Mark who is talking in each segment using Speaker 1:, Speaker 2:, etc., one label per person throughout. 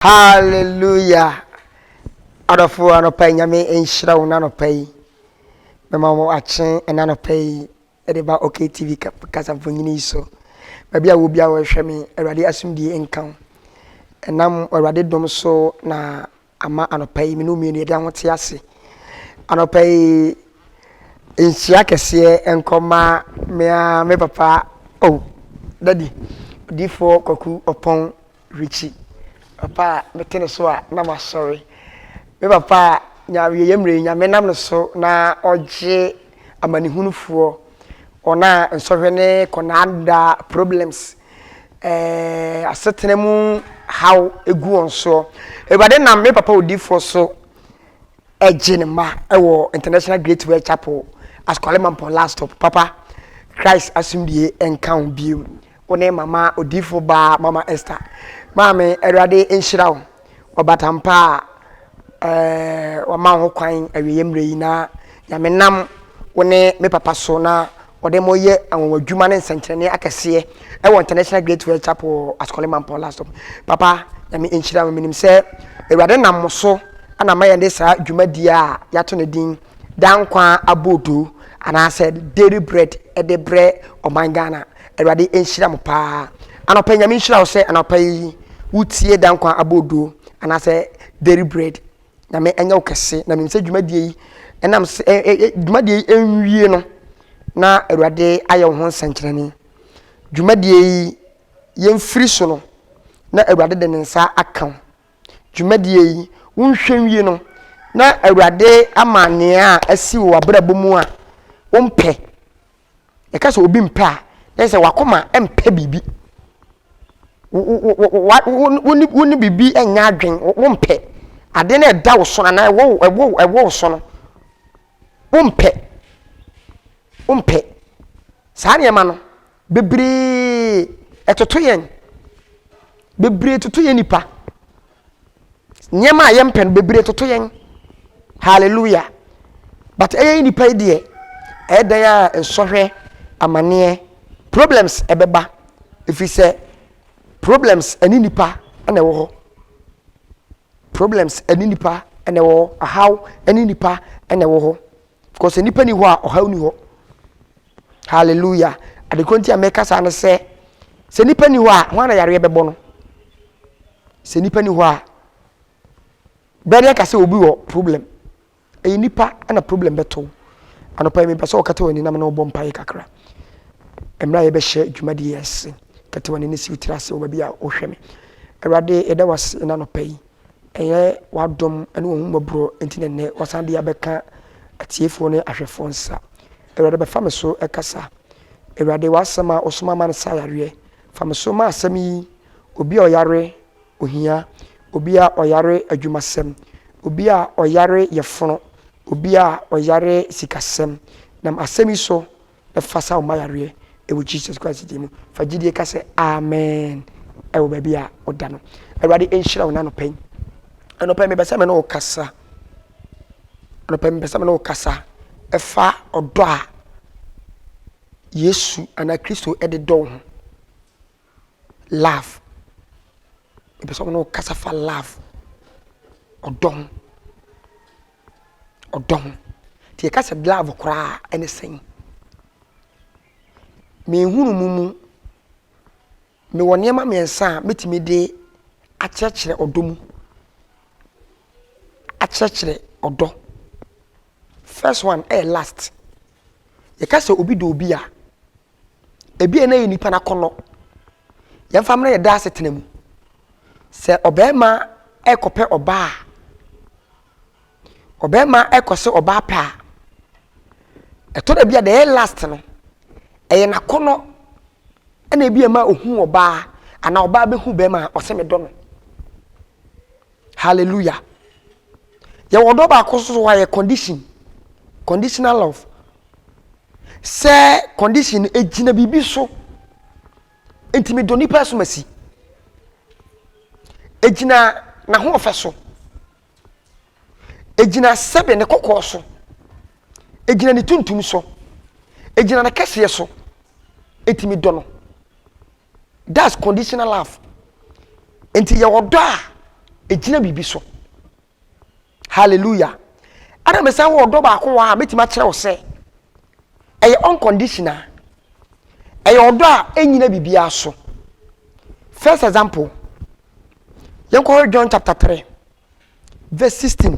Speaker 1: Hallelujah adɔfoɔ anɔpa yi nyame nhyira wo nanɔpa yi mɛma wo akye nanɔpa yi ɛde ba ok tv kasa mfonyini yi so baabi a wo bia wɔhwɛ me awurade asomdie nka wo ɛnam awurade dom so na ama anɔpa yi mene mmienu yɛde aho te ase anɔpa yi nhyira kɛseɛ nkɔma mea me papa oh dadi odifoɔ kwaku ɔpɔn Richie, papa a mete ne so a na masɔre. Me papa a n'awieeɛ mmerɛ yi Nyame nam ne so na ɔgye amanehunufoɔ, wɔn a nsɔhwɛ ne kɔndaanda, problems, eh, asetena mu haw gu wɔn soɔ. Awurade nam me papa odiyifoɔ so ɛgye ne mma wɔ International Great World Chapel, Askwale Mampong Last Stop. Papa, Christ asomdwie nka wo bio. Wo ne mama odiyifo baa Mama Esther. Maame, Awurade nhyira wo. Ɔbatampa a ɛɛ wama wo ho kwan awieeɛ mmerɛ yi na Nyame nam wo ne me papa so na wɔde mo yɛ anwanwadwuma ne nsɛnkyerɛnne akɛseɛ ɛwɔ International Great Word Chapel wɔ Ascoli Mampɔn last stop papa nyame nhyira mo menim sɛ awurade nam mo so ana ma yɛde saa dwumadie a yɛato ne din daa nkwa aboodo anaasɛ dairy bread ɛde brɛ ɔman Ghana awurade nhyira mo paa anɔpɛ nyame nhyira wo sɛ anɔpɛ yi wotie daa nkwa aboodo anaasɛ dairy bread Nyame ɛnyɛ wo kɛse na menim sɛ dwumadie yi ɛnam sɛ ɛ ɛ ɛ dwumadie yi ɛnwie no na Awurade ayɛ wo ho nsɛnkyerɛnne. Dwumadie yi yɛmfiri so no na Awurade de ne nsa aka wo. Dwumadie yi wonhwɛ nwie no na Awurade ama nea asi wɔ w'abrabɔ mu a wompɛ Yɛka sɛ obi mpɛ a, na kyerɛ sɛ w'akoma mpɛ biribi. Wo ne biribi nyɛ adwene, wompɛ. Ade no ɛda wo so anaa ɛwɔ wo so no, wompɛ. Wompɛ. Saa nneɛma no, bebree ɛtoto yɛn. Bebree toto yɛn nipa. nneɛma a yɛmpɛ no bebree toto yɛn hallelujah but ɛyɛ yi nipa yi deɛ ɛyɛ dan a nsɔhwɛ amaneɛ problems ɛbɛba ɛfiri sɛ problems ɛne nipa ɛna ɛwɔ hɔ problems ɛne nipa ɛna ɛwɔ hɔ ahaw ɛne nipa ɛna ɛwɔ hɔ because sɛ nipa ni hɔ a ɔhaw ni hɔ hallelujah adekoro nti a mɛka saa no sɛ sɛ nipa ni hɔ a ho ana yareɛ bɛbɔ no sɛ nipa ni hɔ a bɛde aka sɛ obi wɔ problem ɛyɛ nipa na problem bɛto anɔpa yi mepɛ sɛ ɔkata wɔ aninam na ɔbɔ mpaeɛ kakra mmerɛ a yɛbɛhyɛ dwumadie ase kata wɔ anini si wotiri ase wɔ baabi a wohwɛ me awurade ɛda wase na anɔpa yi Ɛyɛ w'adom ne w'ahummɔborɔ nti na nnɛ woasan de abɛka atiefoɔ ne ahwɛfoɔ nsa. Awurade bɛfa me so kasa. Awurade, w'asɛm a wosoma ma no sa yareɛ. Fa me so ma asɛm yi, obi a ɔyare ohia, obi a ɔyare adwumasɛm, obi a ɔyare yɛfono, obi a ɔyare sikasɛm. Nam asɛm yi so, Fa sa wo ma yareɛ wɔ Jesus Christ din mu. Fa gyidie ka sɛ Amen wɔ baabi a wo da no. Awurade nhyira wo na anɔpa yi. Anɔpa yi mebɛ sɛ me ne wo kasa. Anɔpa yi mebɛ sɛ me ne wo kasa. Ɛfa ɔdɔ a Yesu anaa Kristo de dɔ wo ho. Love. Mebɛ sɛ me ne wo kasa fa love. Ɔdɔ ho. ɔdɔ ho. Nti yɛka sɛ love koraa a, ɛne sɛn? Me nhunumu mu, mewɔ nneɛma mmiɛnsa a mɛtumi de akyerɛkyerɛ ɔdɔ mu. Akyerɛkyerɛ ɔdɔ. First one ɛyɛ last. Yɛka sɛ obi dɔ obi a, ebia na yɛ nipa no akɔnnɔ yɛmfa mmerɛ yɛda asetena mu sɛ ɔbarima ɛkɔpɛ ɔbaa a ɔbarima ɛkɔ sɛ ɔbaa pɛ a ɛtɔ da bi a deɛ ɛyɛ last no ɛyɛ n'akɔnnɔ ɛna ebi ɛma ohu ɔbaa anaa ɔbaa bɛhu bɛrima a ɔsɛ me dɔ no Hallelujah! Yɛwɔ ɔdɔ baako nso so a yɛ condition, conditional love. Sɛ condition no egyina biribi so, nti mi dɔ nipa so ma si. Egyina n'ahoɔfɛ so, egyina sɛbe ne kɔkɔɔ so, egyina ne tuntum so, egyina ne kɛseɛ so, nti mi dɔ no. That's conditional love. Nti yɛ ɔdɔ a egyina biribi so. Hallelujah. Ɛna me san wɔ ɔdɔ baako wɔ a metumi akyerɛ wo sɛ ɛyɛ unconditional. Ɛyɛ ɔdɔ a enyina biribiara so. First example, yɛnkɔhwɛ John chapter 3 verse 16.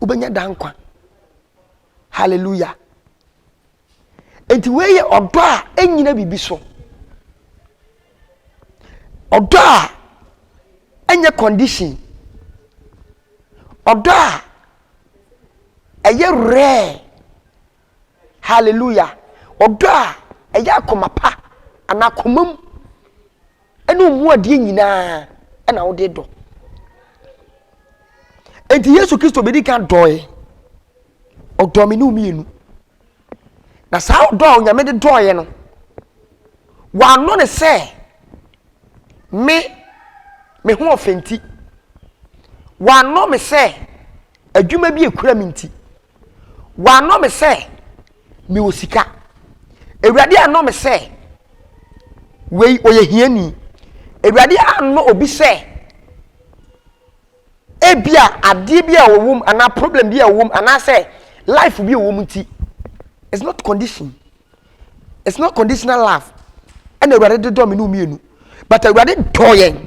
Speaker 1: wobɛnya da nkwa hallelujah nti wei yɛ ɔdɔ a ɛnyina biribi so ɔdɔ a ɛnyɛ condition ɔdɔ a ɛyɛ rare Hallelujah! Ɔdɔ a ɛyɛ akoma pa anaa komam ne wo mu adeɛ nyinaa na wode dɔ enti yesu kristo bɛdi kan dɔɔe ɔdɔɔ me ne mmienu na saa ɔdɔ a onyame de dɔɔeɛ no wɔanɔ ne sɛ me me ho ɔfɛ nti wɔanɔ me sɛ adwuma bi ekura me nti Wannɔ me sɛ mewɔ sika. Awurade annɔ me sɛ wei ɔyɛ hiani. Awurade annɔ obi sɛ ebi a adeɛ bi a ɔwɔ mu anaa problem bi a ɔwɔ mu anaasɛ life bi a ɔwɔ mu nti. It's not condition. It's not conditional love. Ɛna Awurade de dɔ me ne mmienu. But Awurade dɔ yɛn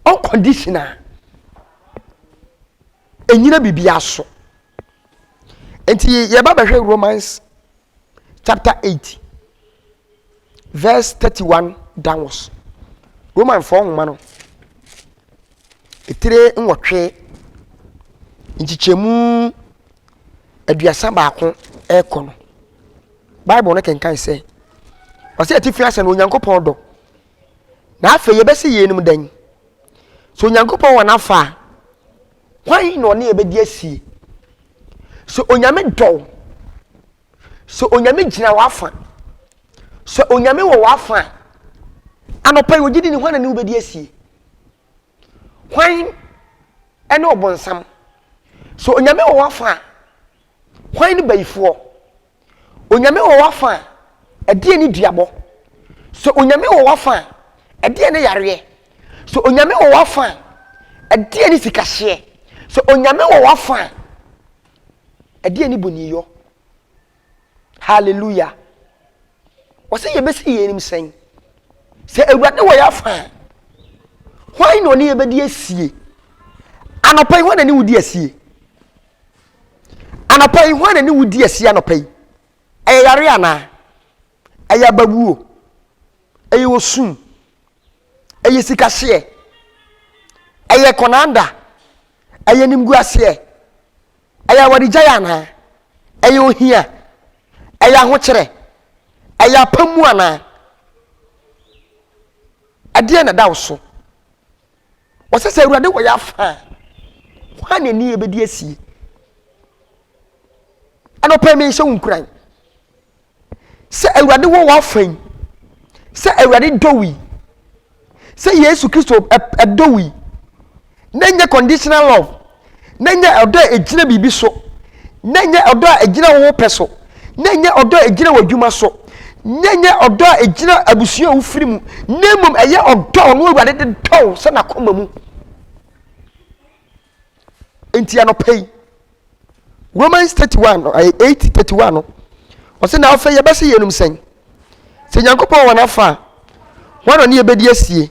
Speaker 1: unconditional. ɛnyina biribia so nti yɛba bɛhwɛ romans chapter 8 verse 31 downwards romanfoɔ nwoma no ɛtire nwɔtwe nkyekyɛmu aduasa baako ɛkɔ no bible no kenkan sɛ ɔsɛ atifi asɛ no onyankopɔn dɔ na afei yɛbɛsɛ yeinom dɛn Sɛ Onyankopɔn wɔ n'afa a, hwan na ɔne yɛ bɛdi asie? Sɛ Onyame dɔ wo, sɛ Onyame gyina w'afa, sɛ Onyame wɔ w'afa a, anɔpa yi ogye di ni hwan na ne wo bɛdi asie? Hwan ɛne ɔbonsam? Sɛ Onyame wɔ w'afa a, hwan ne bayifoɔ? Onyame wɔ w'afa a, ɛdeɛn ne duabɔ? Sɛ Onyame wɔ w'afa a, ɛdeɛn ne yareɛ? Sɛ Onyame wɔ w'afa a, ɛdeɛn ne sikahyeɛ? Sɛ Onyame wɔ w'afa a, ɛdeɛn ne boniyɔ? Hallelujah! Wɔsɛ yɛbɛsi yɛn anim sɛn? Sɛ Awurade wɔ yɛafa a, hwan na ɔne yɛbɛdi asie? Anɔpa yi, hwan na ne wo di asie? Anɔpa yi, hwan na ne wudi asi anɔpa yi? Ɛyɛ yare anaa? Ɛyɛ abawuo? Ɛyɛ osum? Ɛyɛ sikahyeɛ? Ɛyɛ kɔnanda? Ɛyɛ nimguaseɛ? Ɛyɛ awaregyaeɛ anaa? Ɛyɛ ohia? Ɛyɛ ahokyerɛ? Ɛyɛ apam mu anaa? Ɛdeɛ na ɛda wo so? Wɔse sɛ Awurade wɔ yɛ afa a, hwan na ɛni yɛbɛdi asie? Anɔpɛ mehyɛ wo nkuran sɛ Awurade wɔ wɔ afa yi, sɛ Awurade dɔ wo yi, sɛ Yesu Kristo ɛdɔ wo yi, na ɛnyɛ conditional love na ɛnyɛ ɔdɔ a ɛgyina biribi so, na ɛnyɛ ɔdɔ a ɛgyina wo pɛ so, na ɛnyɛ ɔdɔ a ɛgyina w'adwuma so, na ɛnyɛ ɔdɔ a ɛgyina abusua a wofiri mu, na mmom ɛyɛ ɔdɔ a ɔno Awurade de dɔ wo sɛ n'akoma mu. Enti anɔpa yi, Romans 31 no, 8 31 no, ɔsɛ na afei yɛbɛsɛ yɛnum sɛn? Sɛ Nyankopɔn wɔ n'afa a, wɔn na ne yɛbɛdi asie.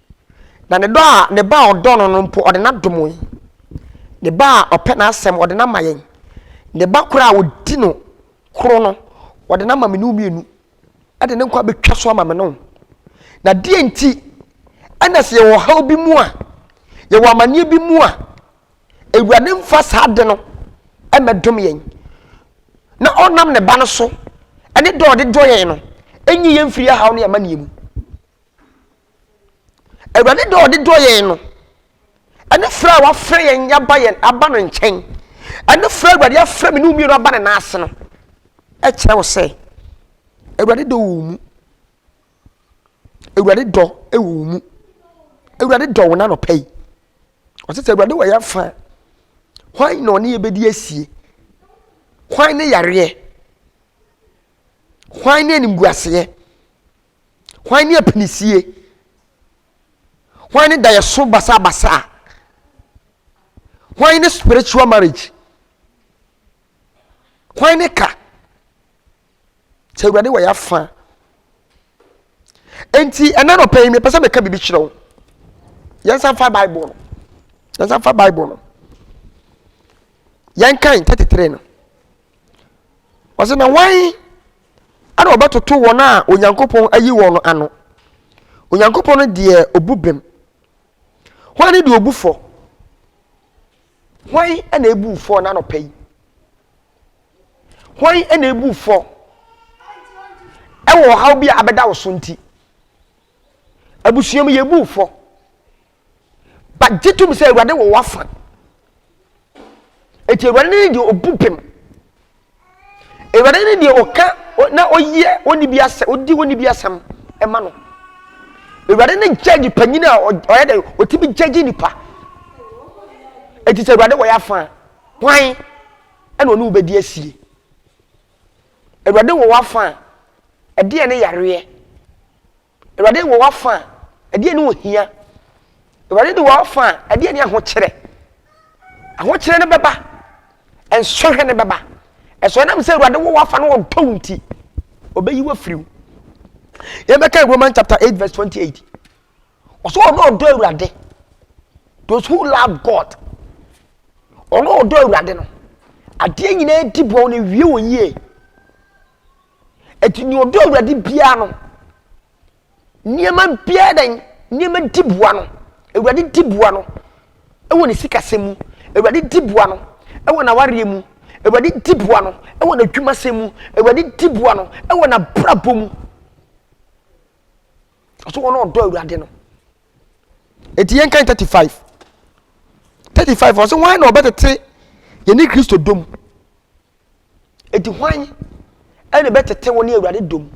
Speaker 1: Na ne dɔ a ne Ba a ɔdɔ no no mpo, ɔde no adom yɛn. Ne Ba a ɔpɛ n'asɛm, ɔde no ama yɛn. Ne Ba koro a ɔdi no koro no, ɔde no ama me ne wo mmienu. Ɛde ne nkwa bɛtwa so ama me ne wo. Na deɛ nti ɛna sɛ yɛwɔ ɔhaw bi mu a, yɛwɔ amanneɛ bi mu a, Awurade mfa saa ade no mmɛdom yɛn. Na ɔnam ne Ba no so, ɛne dɔ a ɔde dɔ yɛn no, ɛnyi yɛn mfiri ahaw ne amanneɛ mu. Awurade dɔ a ɔde dɔ yɛn no, ɛne frɛ a wafrɛ yɛn aba yɛn aba no nkyɛn, ɛne frɛ Awurade afrɛ me ne mmienu aba ne nan ase no, ɛkyerɛ wo sɛ Awurade dɔ wɔ mu. Awurade dɔ wɔ wo mu. Awurade dɔ wo n'anɔpa yi. Ɔsɛ sɛ Awurade wɔ yɛn afa. Hwan na ɔne yɛ bɛdi asie? Hwan ne yareɛ? Hwan ne animguaseɛ? Hwan ne apinisie? Hwan ne daeɛso basabasa? Hwan ne spiritual marriage? Hwan ne ka? Sɛ Awurade wɔ yɛafa. Enti ɛna nɔpɛ yi mepɛ sɛ meka biribi kyerɛ wo. Yɛnsa mfa Bible no. Yɛnsa mfa Bible no. Yɛnkan 33 no. Ɔse na wan ɛna ɔbɛtoto wɔn a Onyankopɔn ayi wɔn no ano? Onyankopɔn no deɛ ɔbu bem. Hwan ne deɛ ɔbu fɔ? Hwan ɛna ɛbu fɔ na anɔpa yi? Hwan ɛna ɛbu fɔ ɛwɔ ɔhaw bi a abɛda wo so nti? Abusua mu yɛbu fɔ. But gye tom sɛ Awurade wɔ w'afa. Eti Awurade ne deɛ obu pem. Awurade ne deɛ ɔka na ɔyɛ wɔn bi asɛm, ɔdi wɔn bi asɛm ɛma no. Awurade ne judge panyin a ɔyɛ dɛ ɔtumi judge nipa. Eti sɛ Awurade wɔ y'afa hwan ɛna ɔne wobɛdi asie. Awurade wɔ w'afa ɛdeɛ ne yareɛ. Awurade wɔ w'afa a, ɛdeɛn ne ohia? Awurade ne w'afa a, ɛdeɛn ne ahokyerɛ? Ahokyerɛ no bɛba, nsɔhwɛ no bɛba. Ɛsɔ nam sɛ Awurade wɔ w'afa no ɔdɔ wo nti, ɔbɛyi wo afiri wo. Yɛbɛka Roman chapter 8 verse 28. Ɔsɛ ɔno ɔdɔ Awurade. Those who love God. Ɔno ɔdɔ Awurade no. Adeɛ nyinaa di boɔ no wie wɔ yie. Enti nea ɔdɔ Awurade biara no, nneɛma biara dɛn, nneɛma di boa no. Awurade di boa no wɔ ne sikasɛm mu. Awurade di boa no wɔ n'awareɛ mu. Awurade di boa no wɔ n'adwumasɛm mu. Awurade di boa no wɔ n'abrabɔ mu. Ɔso wɔn a ɔdɔ Awurade no. Eti yɛn kan thirty five. Thirty five ɔsɛ wɔn na ɔbɛtete yɛne Kristo dom. Enti hwan na ɛbɛtete wo ne Awurade dom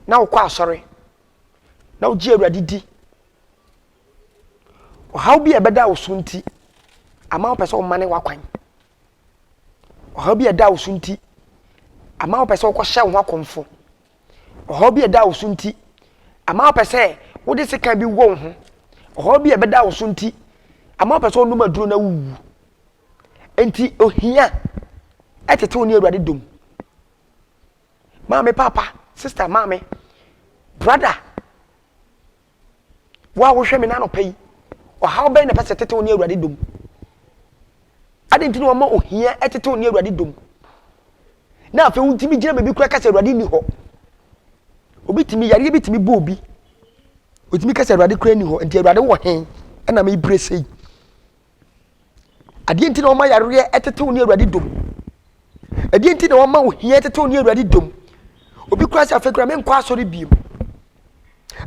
Speaker 1: na wokɔ asɔre na wogye Awurade di? Ɔhaw bi a ɛbɛda wo so nti ama wopɛ sɛ womane w'akwan. Ɔhaw bi a ɛda wo so nti ama wopɛ sɛ wokɔhyɛ wo ho akɔmfo. Ɔhaw bi a ɛda wo so nti ama wopɛ sɛ wode sekan bi wɔ wo ho. Ɔhaw bi a ɛbɛda wo so nti ama wopɛ sɛ wonom aduro na wuwu. Enti ohia ɛtetew ne Awurade dom. Maame papa, sister maame, brother, wo a wohwɛ me n'anɔpa yi, ɔhaw bɛn na ɛpɛ sɛ ɛtetew ne Awurade dom? Ade nti na wɔma ohia ɛtetew ne Awurade dom. Na afei wontumi gyina baabi koraa kasa Awurade nni hɔ. Obi tumi yareɛ bi tumi bɔ obi. Otumi kasa Awurade koraa nni hɔ. Nti Awurade wɔ he ɛna mebire sei. Adeɛ nti na wɔma yareɛ ɛtetew ne awurade dom ɛdeɛ nti na wɔma ohia ɛtetew ne awurade dom obi kura sɛ afei kura menkɔ asɔre biem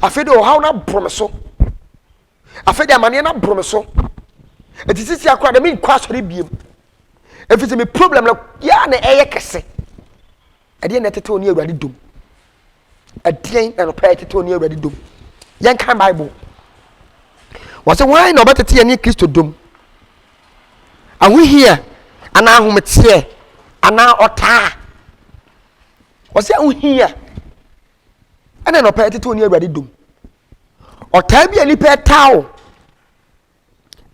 Speaker 1: afei de ɔhaw no aboro me so afei de amaneɛ no aboro me so ɛti sisi akora de menkɔ asɔre biem ɛfiri sɛ me problem no yɛa na ɛyɛ kɛse ɛdeɛ na ɛtetew ne awurade dom Ɛdeɛn na nɔpɛ ɛtete ɔne Awurade dom? Yɛnkan Bible. Wɔsɛ wɔn na ɔbɛtete yɛne Kristo dom. Ahohia anaa ahometeɛ anaa ɔtaa. Wɔsɛ ahohia ɛna nɔpɛ ɛtete ɔne Awurade dom. Ɔtaa bi a nipa ɛtaa o.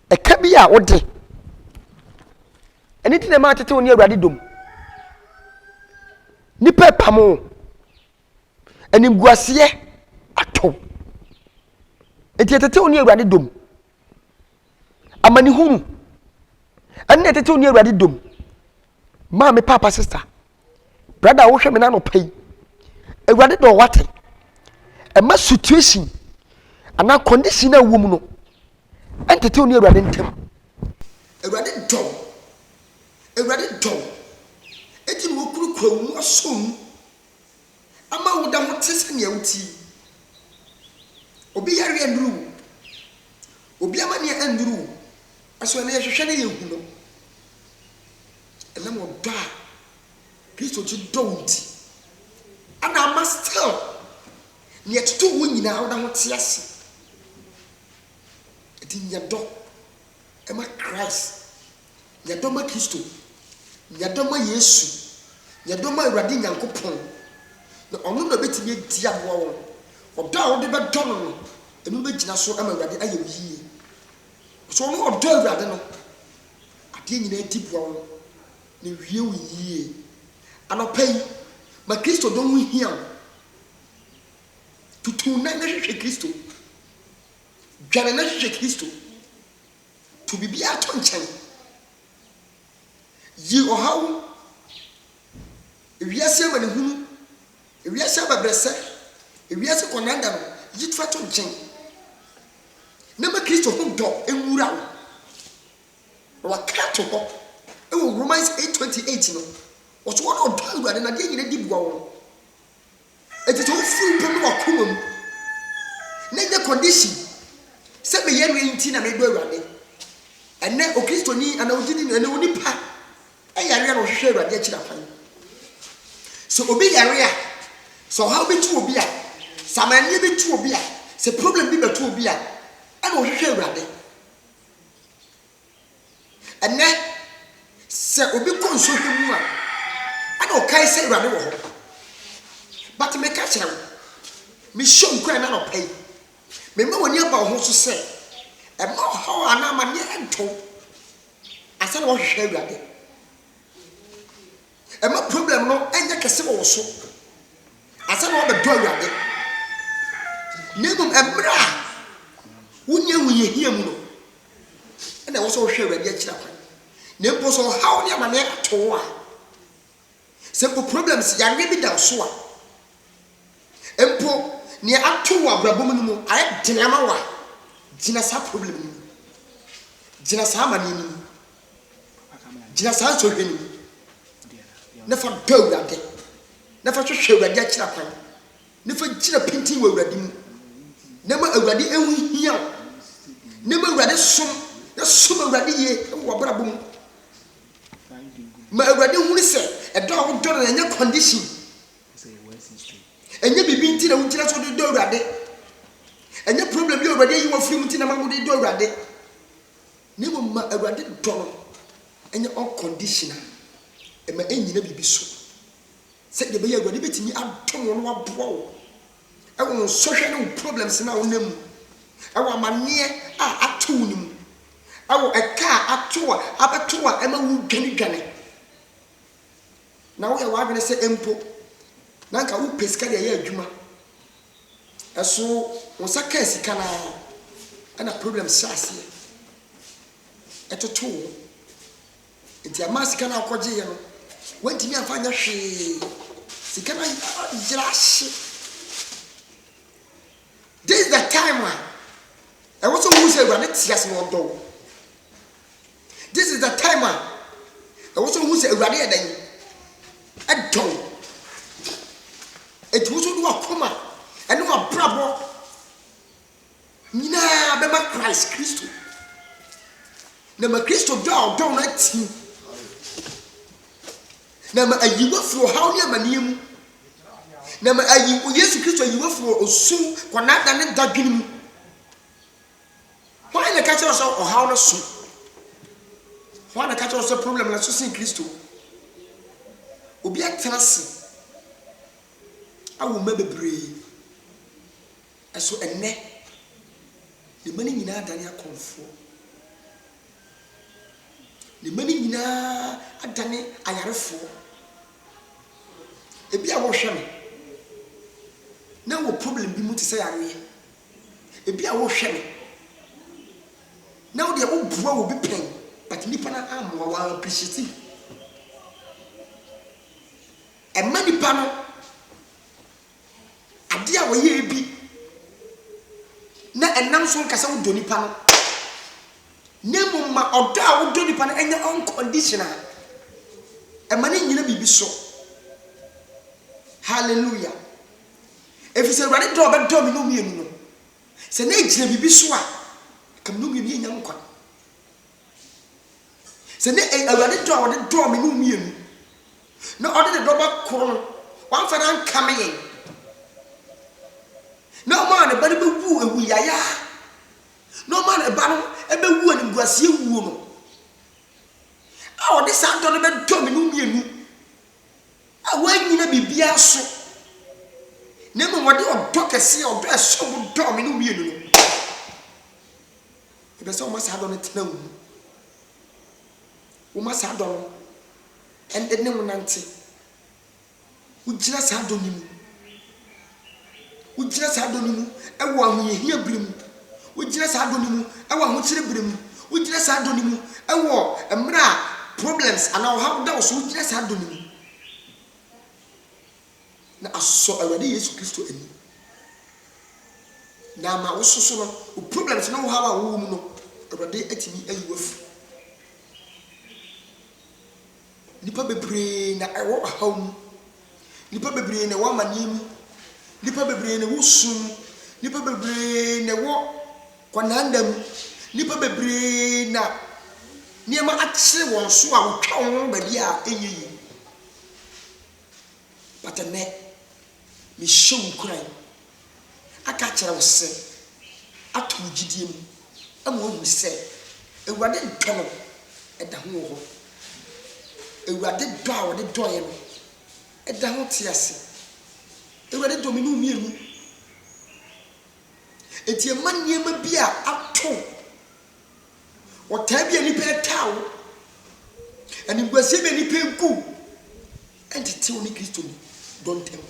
Speaker 1: Ɛka bi a wode. Ɛno nti na ɛma atete wo ne Awurade dom. Nnipa ɛpam wo. Animguaseɛ atɔ wo. Nti ɛtete wo ne Awurade dom. Amanehunu ɛne ɛtete wo ne Awurade dom. Maame paapa sista brada wohwɛ me n'anɔpa yi awurade dɔ wate ɛma situation anaa condition a ɛwɔ mu no ɛntete wo ne awurade ntam awurade dɔ awurade dɔ ɛti na wɔkurukura wo mu asɔ mu ama woda ho te sɛ nea wote yi. Obi yareɛ annuru wo. Obi amanneɛ annuru wo. Ɛsono na yɛhwehwɛ na yɛhu no. Ɛnam ɔdɔ a Kristo gye dɔ wo nti, ɛna ama still nea ɛtotoo wo nyinaa woda ho te ase. Ɛnti nya dɔ ma Christ. Yɛ dɔ ma Kristo. Yɛ dɔ ma Yesu. Yɛ dɔ ma Awurade Nyankopɔn, na ɔno na ɔbɛtumi adi aboa wo. Ɔdɔ a wode bɛdɔ no no, ɛno bɛgyina so ama Awurade ayɛ wo yie. Sɛ wo ne ɔdɔ Awurade no, adeɛ nyinaa di boa wo, na ɛwie wo yie. Anɔpa yi, ma Kristo dɔ ho hia wo. Tutu wo nan na hwehwɛ Kristo. Dwane na hwehwɛ Kristo. To biribiara to nkyɛn. Yi ɔhaw, wiase amanehunu, wiase abɛbrɛsɛ, wiase kɔnanda no, yi fa to nkyɛn, na ma Kristo ho dɔ nwura wo. Na wɔaka ato hɔ wɔ Romans eight twenty eight no, wɔso wɔn a wɔdɔ Awurade na adeɛ nyina di boa wɔn. Ɛte sɛ wofi wo pɛ ne w'akoma mu, na ɛnyɛ condition sɛ meyɛ no nti na medɔ Awurade. Ɛnɛ Okristoni anaa ogyidi no, ɛnɛ onipa yareɛ na ɔhwehwɛ Awurade akyiri akwan. Sɛ obi yare a, sɛ ɔhaw bi to obi a, sɛ amanneɛ bi to obi a, sɛ problem bi bɛto obi a, ɛna ɔhwehwɛ Awurade. Ɛnnɛ, sɛ obi kɔ nsuo bi mu a, ɛna ɔkae sɛ Awurade wɔ hɔ. But meka kyerɛ wo, mehyɛ wo nkuran anɔpa yi, mema w'ani aba wo ho so sɛ, ɛma ɔhaw anaa amaneɛ nto wo ansa na woahwehwɛ Awurade. Ɛma problem no yɛ kɛse wɔ wo so ansa na woabɛdɔ Awurade. Na mmom mmerɛ a wonni ahohiahia mu no, ɛna ɛwɔ sɛ wohwɛ Awurade akyira kwan. Na mpo sɛ ɔhaw ne amaneɛ ato wo a, sɛ mpo problems, yareɛ bi da wo so a, mpo nea ato wo abrabɔ mu no mu ayɛ den ama wo a, gyina saa problem no mu. Gyina saa amaneɛ no mu. gyina saa nsɔhwɛ no mu na fa dɔ awurade na fa hwehwɛ awurade akyira kwan na fa gyina pintin wɔ awurade mu na ma awurade ɛho hia wo na ma awurade som na som awurade yie wɔ w'abrabɔ mu ma awurade hunu sɛ ɛdɔ a wodɔ no na ɛnyɛ condition ɛnyɛ biribi nti na wogyina so wode dɔ awurade ɛnyɛ problem bi a awurade ayi wɔ firi mu nti na ma wode dɔ awurade Na mmom ma Awurade dɔ no nyɛ unconditional, mma ɛnnyina biribi so, sɛdeɛ ɛbɛyɛ a Awurade bɛtumi adom wo na waboa wo wɔ wo nsɔhwɛ ne wo problems no a wonam mu, wɔ amanneɛ a ato wo no mu, wɔ ɛka a ato a abɛto wo a ɛma wodwanedwane. na woyɛ w'adwene sɛ mpo na anka wopɛ sika de ayɛ adwuma, ɛso wo nsa kaa sika no ara ɛna problem hyɛ aseɛ ɛtoto wo nti ɛmaa sika no a wokɔgyeeɛ no woantumi amfa nyɛ hwee sika no ayera ahye this is the time a ɛwɔ sɛ wohu sɛ awurade te ase na ɔdɔ wo This is the time a ɛwɔ sɛ wohu sɛ Awurade yɛ dɛn? Ɛdɔ wo. Enti wo nso de w'akoma ne w'abrabɔ nyinaa bɛma Christ Kristo. Na ma Kristo dɔ a ɔdɔ wo no atim. Na ma ayi wafiri ɔhaw ne amanneɛ mu. Na ma ayi Yesu Kristo ayi wafiri osu, kɔnada ne dadwene mu. Hwan na ɛka kyerɛ wo sɛ ɔhaw no so? Hwan na ɛka kyerɛ wo sɛ problem no so sen Kristo? Obi atena ase awo mma bebree, ɛso ɛnnɛ ne mma no nyinaa adane akɔmfoɔ. Ne mma no nyinaa adane ayarefoɔ. Ebi a wohwɛ no na wɔ problem bi mu te sɛ yareɛ. Ebia wohwɛ no na wo deɛ woboa obi pɛn but nipa no ammoa wo an appreciate no. Ɛma nipa no adeɛ a wɔyɛɛ bi na ɛnam so nka sɛ wodɔ nipa no na mmom ma ɔdɔ a wodɔ nipa no ɛnyɛ unconditional. Ɛma no nyina biribi so. Hallelujah. Ɛfiri sɛ Awurade dɔ a ɔbɛdɔ me ne wo mmienu no, sɛ na ɛgyina biribi so a, anka me ne wo mmienu yɛnnya nkwa. Sɛ na Awurade dɔ a ɔde dɔɔ me ne wo mmienu, na ɔde ne dɔba koro no, wamfa no ankame yɛn, na ɔmaa ne ba no bɛwuu awu yayaa, na ɔmaa ne ba no bɛwu animguaseɛ wuo no, a ɔde saa dɔ no bɛdɔ me ne wo mmienu, a wɔannyina biribiara so, na mmom wɔde ɔdɔ kɛse a ɔdɔ a ɛsom bo dɔɔ me no wiee no no, mepɛ sɛ woma saa dɔ no tena wo mu. Woma saa dɔ no ne wo nante. Wogyina saa dɔ no mu. Wogyina saa dɔ no mu wɔ ahohiahia bere mu. Wogyina saa dɔ no mu wɔ ahokyere bere mu. Wogyina saa dɔ no mu wɔ mmerɛ a problems anaa ɔhaw da wo so. Wogyina saa dɔ no mu na asɔ Awurade Yesu Kristo ani na ama wo soso no, wo problems ne wo haw a wowɔ mu no, Awurade atumi ayi wo afiri. Nnipa bebree na ɛwɔ ɔhaw mu. Nnipa bebree na ɛwɔ amaneɛ mu. Nnipa bebree na ɛwɔ sum mu. Nnipa bebree na ɛwɔ kɔnanda mu. Nnipa bebree na nneɛma akyere wɔn so a wɔtwa wɔn ho baabi a ɛnyɛ yie. But ɛnnɛ, Mehyɛ wo nkuran aka akyerɛ wo sɛ, ato wo gyidie mu ma woahunu sɛ Awurade ntɔ no da ho wɔ hɔ. Awurade dɔ a ɔde dɔ yɛn no da ho te ase. Awurade dɔ me ne wo mmienu. Enti mma nneɛma bi a ato wo Ɔtaa bi a nnipa retaa wo, animguaseɛ bi a nnipa regu wo, ɛntete wo ne Kristo mu dɔ ntam.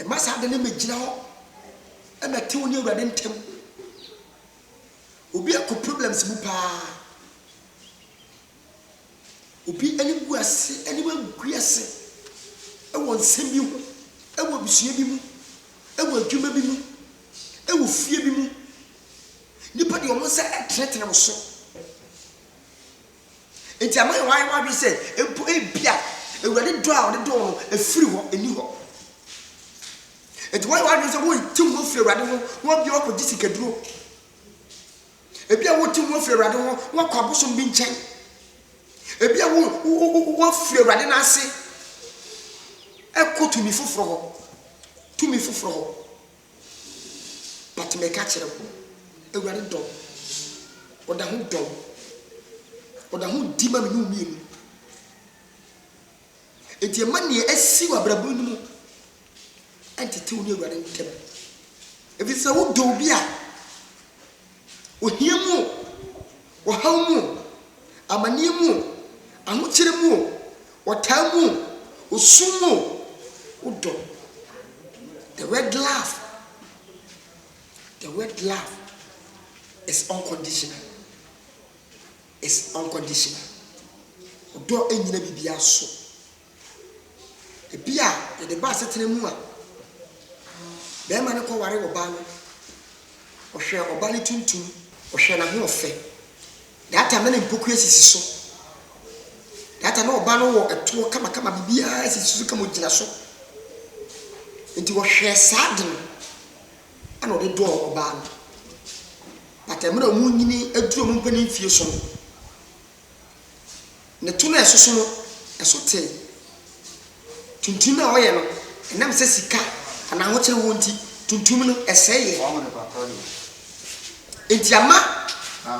Speaker 1: Ɛma saa ade no mmɛgyina hɔ ɛmɛte wo ne Awurade ntam. Obi akɔ problems mu paa. Obi anim gu ase, anim agu ase ɛwɔ nsɛm bi ho, ɛwɔ abusua bi mu, ɛwɔ adwuma bi mu, ɛwɔ fie bi mu. Nnipa de wɔn nsa tenetene wo so. Enti ama yɛn ayɛ w'adwene sɛ mpo ebi a Awurade dɔ a ɔde dɔ no efiri hɔ, enni hɔ. Enti wɔyɛ w'adwene sɛ wɔretim ho firi Awurade ho na wɔabia wɔakɔgye sikaduro. Ebi a wɔretim ho firi Awurade ho na wɔakɔ abosom bi nkyɛn. Ebi a wɔafiri Awurade n'ase ɛkɔ tumi foforɔ hɔ, tumi foforɔ hɔ. But meka kyerɛ wo, Awurade dɔ wo. Ɔda ho dɔ wo. Ɔda ho di ma me ne wo mmienu. Enti ɛma nea asi wɔ abrabɔ no mu ɛntete wo ne Awurade ntam. Ɛfiri sɛ wodɔ obi a, ohia mu o, ɔhaw mu o, amaneɛ mu o, ahokyere mu o, ɔtaa mu o, osu mu o, wo dɔ. The word love, the word love is unconditional. It's unconditional. Ɔdɔ nnyina biribiara so. Ebi a yɛde ba asetena mu a barima no kɔware ɔbaa no, ɔhwɛ ɔbaa no tuntum, ɔhwɛ n'ahoɔfɛ. Daata na ne mpokua sisi so. Daata na ɔbaa no wɔ ɛtoɔ kamakama, biribiara sisi so kama ɔgyina so. Nti wɔhwɛɛ saa de no ɛna ɔde dɔɔ ɔbaa no. But mmerɛ a wɔnyini aduru wɔn mpanin mfie so no, Ne to no a ɛsoso no, ɛso tee. Tuntum a wɔyɛ no, ɛnam sɛ sika anaa ahokyere wɔ nti, tuntum no, ɛsɛe yɛ. Enti ama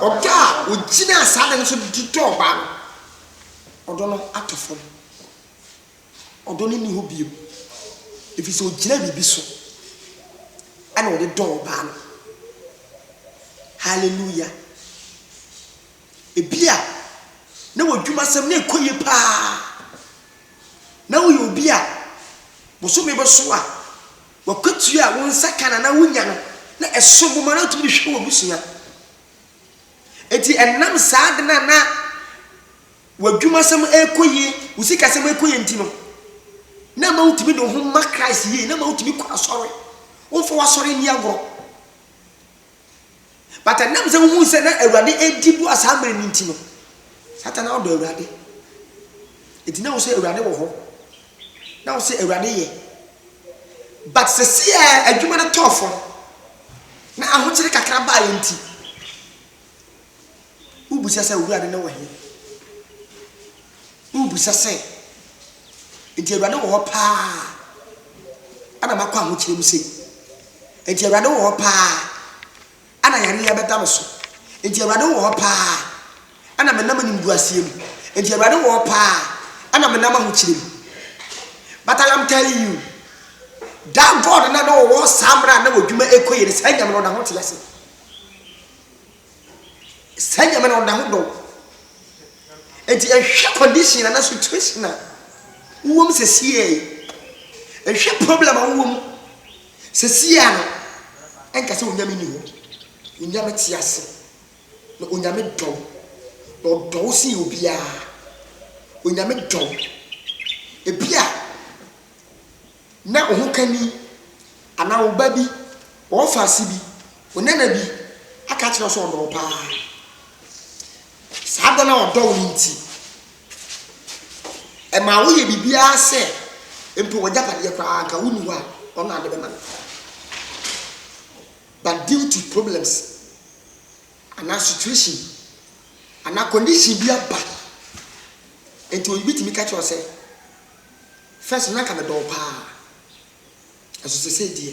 Speaker 1: ɔdɔ a ogyinaa saa ade no so de dɔɔ ɔbaa no, ɔdɔ no atɔ fam. Ɔdɔ no nni hɔ bio, efisɛ ogyinaa biribi so na ɔde dɔɔ ɔbaa no. Hallelujah! Ebia na w'adwumasɛm no rekɔ yie paa. Ná woyɛ obi a bosome bɛso a, w'akatua a wo nsa ka no anaa wonya no, na ɛsom bo ma na wotumi de hwɛ w'abusua. Enti ɛnam saa ade no a na w'adwumasɛm rekɔ yie, wo sikasɛm rekɔ yie nti no, na ɛma wotumi de wo ho ma Christ yie, na ɛma wotumi kɔ asɔre. Womfa w'asɔre nni agorɔ. But ɛnam sɛ wohuu sɛ na Awurade redi boa saa mmerɛ no nti no, Satan na ɔdɔ Awurade. Enti na wo sɛ Awurade wɔ hɔ. Na wo sɛ Awurade yɛ. But sɛsi a adwuma no tɔɔ fam, na ahokyere kakra baeɛ nti, Wobisa sɛ, Awurade no wɔ he? Wobisa sɛ, Nti Awurade wɔ hɔ paa ana makɔ ahokyerɛ mu sei? Nti Awurade wɔ hɔ paa ana yɛne yɛbɛda me so? Nti Awurade wɔ hɔ paa ana menam animguaseɛ mu? Nti Awurade wɔ hɔ paa ana menam ahokyerɛ mu? But I am telling you, that God na na ɔwɔ saa mmerɛ a na wɔdwuma ɛkɔ yie no, saa nyame no ɔda ho te ase. Saa nyame no ɔda ho dɔ wo. Enti ɛnhwɛ condition anaa situation a wowɔ mu sɛsiɛ yi, ɛnhwɛ problem a wowɔ mu sɛsiɛ no, ɛnka sɛ onyame ni hɔ. Onyame te ase, na onyame dɔ wo, na ɔdɔ wo sen obiara. Onyame dɔ wo. Ebia Ná wo hokani anaa wo ba bi, wo ɔfaase bi, wo nana bi aka akyerɛ wo sɛ ɔdɔ wo paa. Saa dɔ no a ɔdɔ wo no nti, ɛmaa woyɛ biribiara sɛ mpo w'agyapadeɛ koraa anka wonni hɔ a, ɔno na ade bɛma no. But due to problems anaa situation bi anaa condition bi aba nti, obi tumi ka kyerɛ wo sɛ, First no na nka medɔ wo paa nso sesei deɛ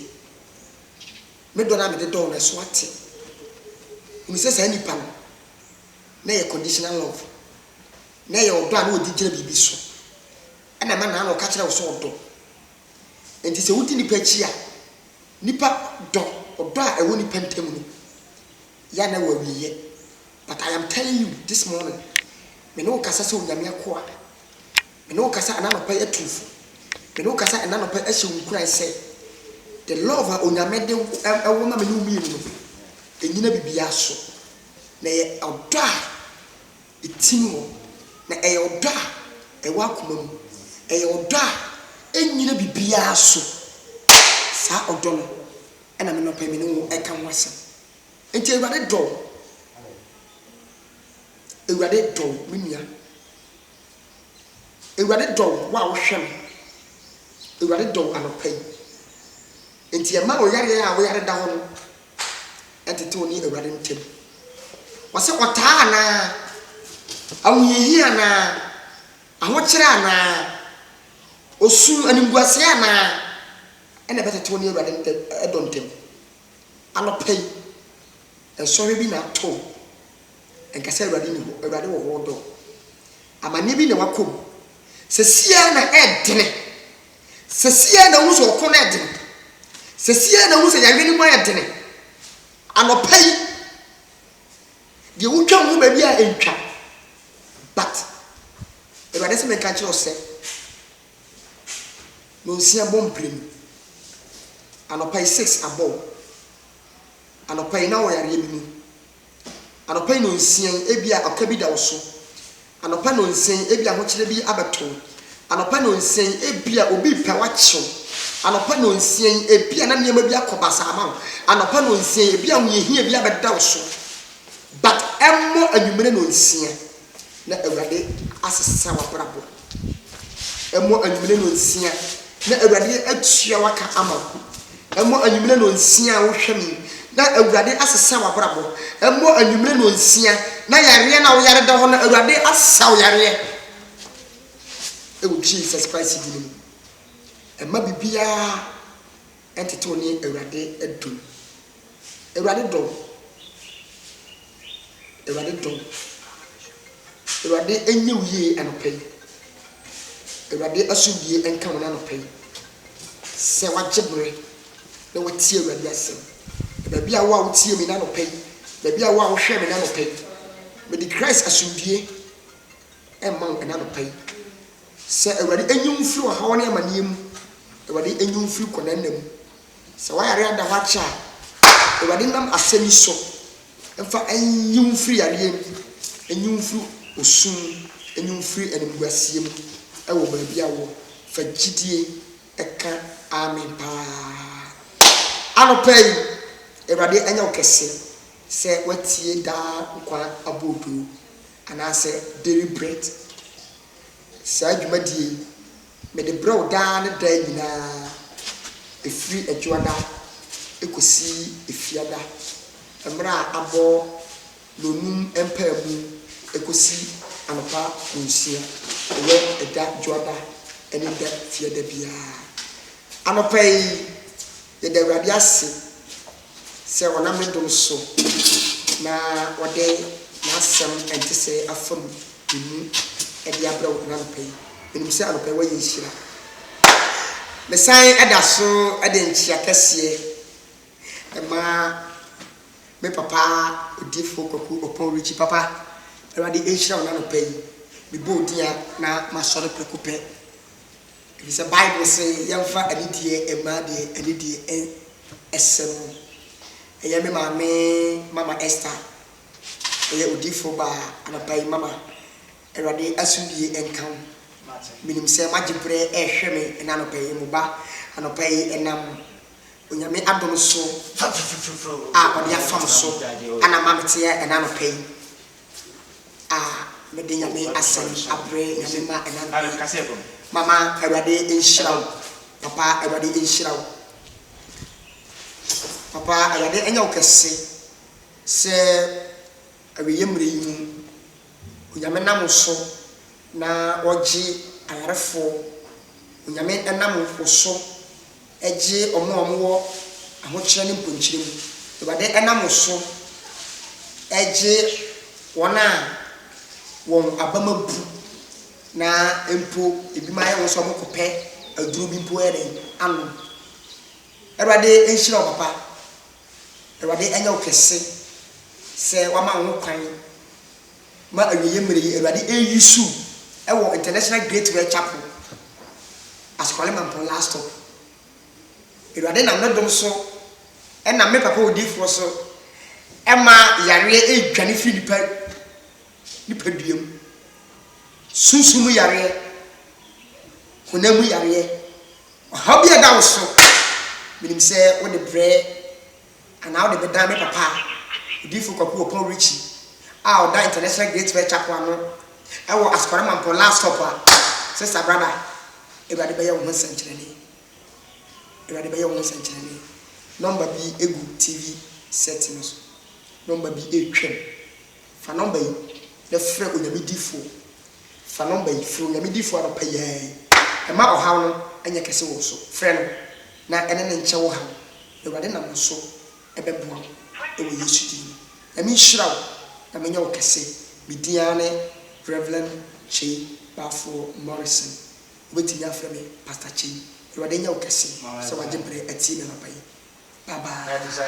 Speaker 1: me dɔ no a mede dɔ wo no ɛso ate. Hunu sɛ saa nipa no na ɛyɛ conditional love, na ɛyɛ ɔdɔ a na ɔde gyina biribi so ɛna ɛma na na ɔka kyerɛ wo sɛ ɔdɔ. Nti sɛ wodi nipa akyi a nipa dɔ ɔdɔ a ɛwɔ nipa ntam no yɛ a na ɛwɔ awieɛ. But I am telling you this morning me ne wo kasa sɛ Onyame akoa. Me ne wo kasa ɛna anɔpa yi atumfo me ne wo kasa ɛna anɔpa yi ahyɛ wo nkuran sɛ the love a onyame de ɛwɔ ma me ne wo mmienu no ɛnyina bibia so na ɛyɛ ɔdɔ a ɛtim hɔ na ɛyɛ ɔdɔ a ɛwɔ akoma mu ɛyɛ ɔdɔ a ɛnyina bibia so saa ɔdɔ no ɛna me nɔpa yi me ne wo ɛka ho asɛm nti awurade dɔ wo awurade dɔ wo me nua Awurade dɔ wo, wo a wohwɛ me. Awurade dɔ wo anɔpa yi. Enti ɛma ɔyareɛ a woyare da hɔ no tete wo ne Awurade ntam. Ɔsɛ ɔtaa anaa, ahohiahia anaa, ahokyerɛ anaa, osu, animguaseɛ anaa, ɛna ɛbɛtete wo ne Awurade ntam, ɛdɔ ntam. Anɔpa yi, nsɔhwɛ bi na ato wo. Nka sɛ Awurade nni hɔ, Awurade wɔ hɔ, ɔdɔ wo. Amanneɛ bi na wakɔ mu. Seesei ara na ɛredene. Seesei ara na wohu sɛ ɔko no redene. Seesei ara na wohu sɛ yareɛ no mu ayɛ dene. Anɔpa yi, deɛ wotwa ho baabi a ɛntwa. But, Awurade sɛ menka nkyerɛ wo sɛ, nonsia bɔ mpire mu. Anɔpa yi six abɔ wo. Anɔpa yi na wɔ yareɛ bi mu. Anɔpa yi nonsia yi, ebia ɔka bi da wo so. Anɔpa nonsia yi, ebia ahokyerɛ bi abɛto wo. Anɔpa nonsia yi, ebia obi repɛ wo akye wo. Anɔpa nonsia yi, ebia na nneɛma bi akɔ basaa ama wo. Anɔpa nonsia yi, ebia ahohiahia bi abɛda wo so. But ɛmmɔ anwummere nonsia na Awurade asesa w'abrabɔ. Ɛmmɔ anwummerɛ nnɔnsia na Awurade atua w'aka ama wo. Ɛmmɔ anwummerɛ nnɔnsia a wohwɛ me yi na Awurade asesa w'abrabɔ. Ɛmmɔ anwummerɛ nnɔnsia na yareɛ no a woyare da hɔ no, Awurade asa wo yareɛ. Ɛwɔ Jesus Christ din mu. Ɛmma biribiara ɛtetew ne Awurade dom. Awurade dom, Awurade dom. Awurade ɛnyɛ wo yie anɔpa yi. Awurade asomdwie ɛnka wo n'anɔpa yi. Sɛ wagye berɛ na watie Awurade asɛm. Baabi a wo a wotie me n'anɔpa yi, baabi a wo a wohwɛ me n'anɔpa yi, mede Christ asomdwie ɛma wo n'anɔpa yi. Sɛ Awurade nyi wo firi ɔhaw ne amaneɛ mu, Awurade nyi wo firi kɔnanna mu. Sɛ w'ayareɛ ada hɔ akyɛ a, Awurade nam asɛm yi so mfa nyi wo firi yareɛ mu, nyi wo firi osu mu, nyi wo firi animguaseɛ mu wɔ baabi a wowɔ. Fa gyidie ka amen paa. Anɔpa yi, Awurade anya wo kɛseɛ sɛ woatie daa nkwa abodoo. anaasɛ Daily Bread. Saa dwumadie yi, mede brɛ wo daa ne daa nyinaa, ɛfiri Adwoada kɔsi Efiada, mmerɛ a abɔ nnɔnnum mpaemu kɔsi anɔpa nnɔnsia, ɛyɛ ɛda Dwoada ne ɛda Fiada biara. Anɔpa yi, yɛda Awurade ase Sɛ ɔnam ne dom so na ɔde n'asɛm ɛntesɛɛ afa mu mu de abrɛ wo ɛna anɔpa yi, menim sɛ anɔpa yi woayɛ nhyira. Mesan da so de nkyea kɛseɛ ma me papa Odiyifoɔ Kwaku Opon Richie. Papa, Awurade nhyira wo ɛna anɔpa yi. Mebɔ wo din a na masɔre prɛko pɛ. Efisɛ Bible se yɛmfa anidie mma deɛ anidie sɛ mu. Ɛyɛ me maame Mama Esther, ɛyɛ odiyifoɔ baa anapa yi Mama, Awurade asomdwie nka wo. Menim sɛ moagye berɛ rehwɛ me ɛna anɔpa yi, mo ba anɔpa yi ɛnam Onyame adom so a ɔde afam so ana ma meteɛ ɛna anɔpa yi. a mede Nyame asɛm abrɛ Nyame ma ɛnam ha yi Mama Awurade nhyira wo Papa Awurade nhyira wo Papa Awurade ɛnyɛ wo kɛse sɛ awieɛ mmerɛ yi mu Onyame nam wo so na ɔgye ayarefoɔ Onyame ɛnam wo so Gye wɔn a wɔwɔ ahokyerɛ ne mponkyerɛ mu. Awurade nam wo so gye wɔn a wɔn abam abu na mpo ebinom ayɛ wɔn sɛ wɔkɔpɛ aduro bi mpo ayɛ dɛn anom. Awurade nhyira wo papa. Awurade nyɛ wo kɛse sɛ wama wo ho kwan Ma awieeɛ mmerɛ yi Awurade ɛnyi su wɔ International Great Well Chapel Askwale Mampong last stop Awurade nam ne dom so ɛnam me papa odiyifoɔ so ɛma yareɛ ɛredwane firi nipa nipa dua mu Sunsum mu yareɛ Honam mu yareɛ Ɔhaw bi a ɛda wo so Menim sɛ wode brɛ Anaa wode bɛdan me papa, Odiyifo Kwaku Opɔw Richie a ɔda International Great Bear Chapel ano wɔ Asokore Mampong last stop a? Sister, brother, Awurade bɛyɛ wo ho nsɛnkyerɛnne. Awurade bɛyɛ wo ho nsɛnkyerɛnne. Nɔmba bi gu TV set no so. Nɔmba bi retwam. Fa nɔmba yi na frɛ Onyame difo. Fa nɔmba yi frɛ Onyame difo anɔpa yi ara yi. Mma ɔhaw no nyɛ kɛse wɔ wo so. Frɛ no na ɛne no nkyɛ wo haw, na Awurade nam wo so bɛboa wo wɔ Yesu din mu. Nyame nhyira wo na menyɛ wo kɛse. Me din ara ne Rev. Kyei Bafoɔ Morrison. Wobɛtumi afrɛ me Pastor Kyei. Awurade nyɛ wo kɛse sɛ wagye berɛ atie me anɔpa yi. Bye bye.